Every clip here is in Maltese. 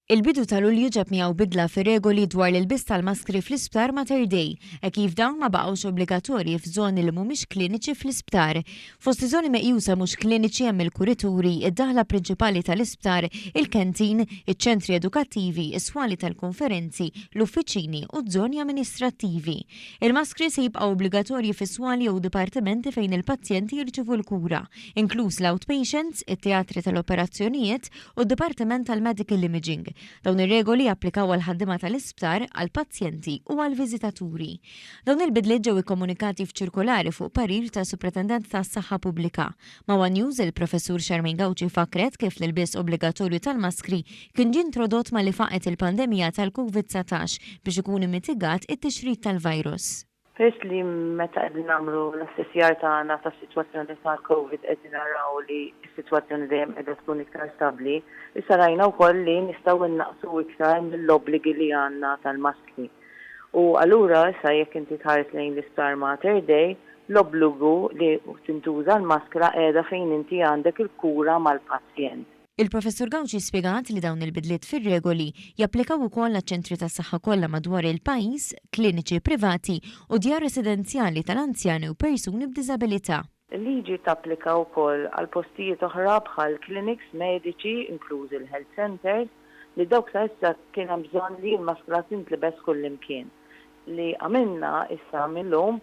Il-bidu ta' Lulju ġab miegħu bidla fir-regoli dwar l-ilbies tal-maskri fl-isptar Mater Dei, hekk kif dawn ma baqgħux obbligatorji f'żoni li mhumiex kliniċi fl-isptar. Fost iż-żoni meqjusa mhux kliniċi hemm il-kurituri, id-daħla prinċipali tal-isptar, il-canteen, iċ-ċentri edukattivi, is-swali tal-konferenzi, l-uffiċini u ż-żoni amministrattivi. Il-maskri se jibqgħu obbligatorji fis-swali jew dipartimenti fejn il-pazjenti jirċievu l-kura. inkluż l-outpatients, it-teatri tal-operazzjonijiet u d-dipartiment tal-medical imaging. Dawn ir-regoli japplikaw għall-ħaddiema tal-isptar, għall-pazjenti u għall-viżitaturi. Dawn il-bidliet ġew ikkomunikati f'ċirkolari fuq parir tas-Supretendent tas-Saħħa Pubblika. Ma' one News, il-Professur Charmaine Gauci fakkret kif l-ilbies obbligatorju tal-maskri kien ġie introdott malli faqgħet il-pandemija tal-Covid 19 biex ikun immitigat it-tixrid tal-virus. Peress li meta qegħdin nagħmlu l-assessjar tagħna tas-sitwazzjoni tal-Covid qegħdin naraw li s-sitwazzjoni dejjem qiegħda tkun iktar stabbli, issa rajna wkoll li nistgħu nnaqqsu iktar mill-obbligi li għandna tal-maskri. U allura issa jekk inti tħares lejn l-Isptar Mater Dei, l-obbligu li tintuża l-maskra qiegħda fejn inti għandek il-kura mal-pazjent. Il-Professur Gauci spjegat li dawn il-bidliet fir-regoli japplikaw ukoll għaċ-ċentri tas-saħħa kollha madwar il-pajjiż, kliniċi privati u djar residenzjali tal-anzjani u persuni b'diżabilità. Il-liġi tapplika wkoll għal postijiet oħra bħal kliniks mediċi, inklużi l-health centres, li dawk sa issa kien hemm bżonn li l-maskra tintlibes kullimkien, li għamilna issa mil-lum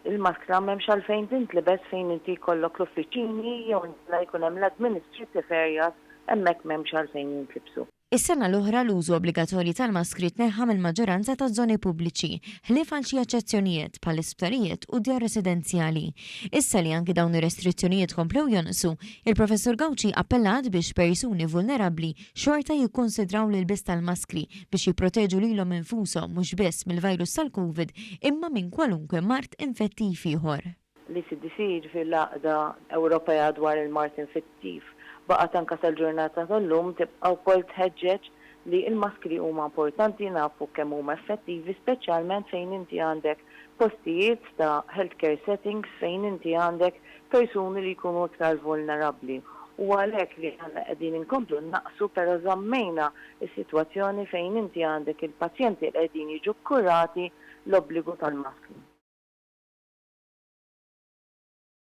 Il-maskra m'hemmx għalfejn tintlibes fejn inti jkollok l-uffiċini jew inkella jkun hemm l-administrative areas, hemmhekk m'hemmx għalfejn jintlibsu. Is-sena l-oħra l-użu obbligatorji tal-maskri tneħħa mill-maġġoranza taż-żoni pubbliċi, ħlief għal xi eċċezzjonijiet bħall-isptarijiet u d-djar residenzjali. Issa li anki dawn ir-restrizzjonijiet komplew jonqsu, il-Professur Gauci appellat biex persuni vulnerabbli xorta jikkunsidraw l-ilbies tal-maskri biex jipproteġu lilhom infushom mhux biss mill-virus tal-Covid imma minn kwalunkwe mard infettiv ieħor. L-ECDC, jiġifieri l-Għaqda Ewropea dwar il-Mard Infettiv, baqgħet anke sal-ġurnata tal-lum tibqa' wkoll tħeġġeġ li l-maskri huma importanti, nafu kemm huma effettivi speċjalment fejn inti għandek postijiet ta' healthcare settings fejn inti għandek persuni li jkunu iktar vulnerabbli. Huwa għalhekk li aħna qegħdin inkomplu nnaqqsu però żammejna s-sitwazzjoni fejn inti għandek il-pazjenti li qegħdin jiġu kkurati l-obbligu tal-maskri.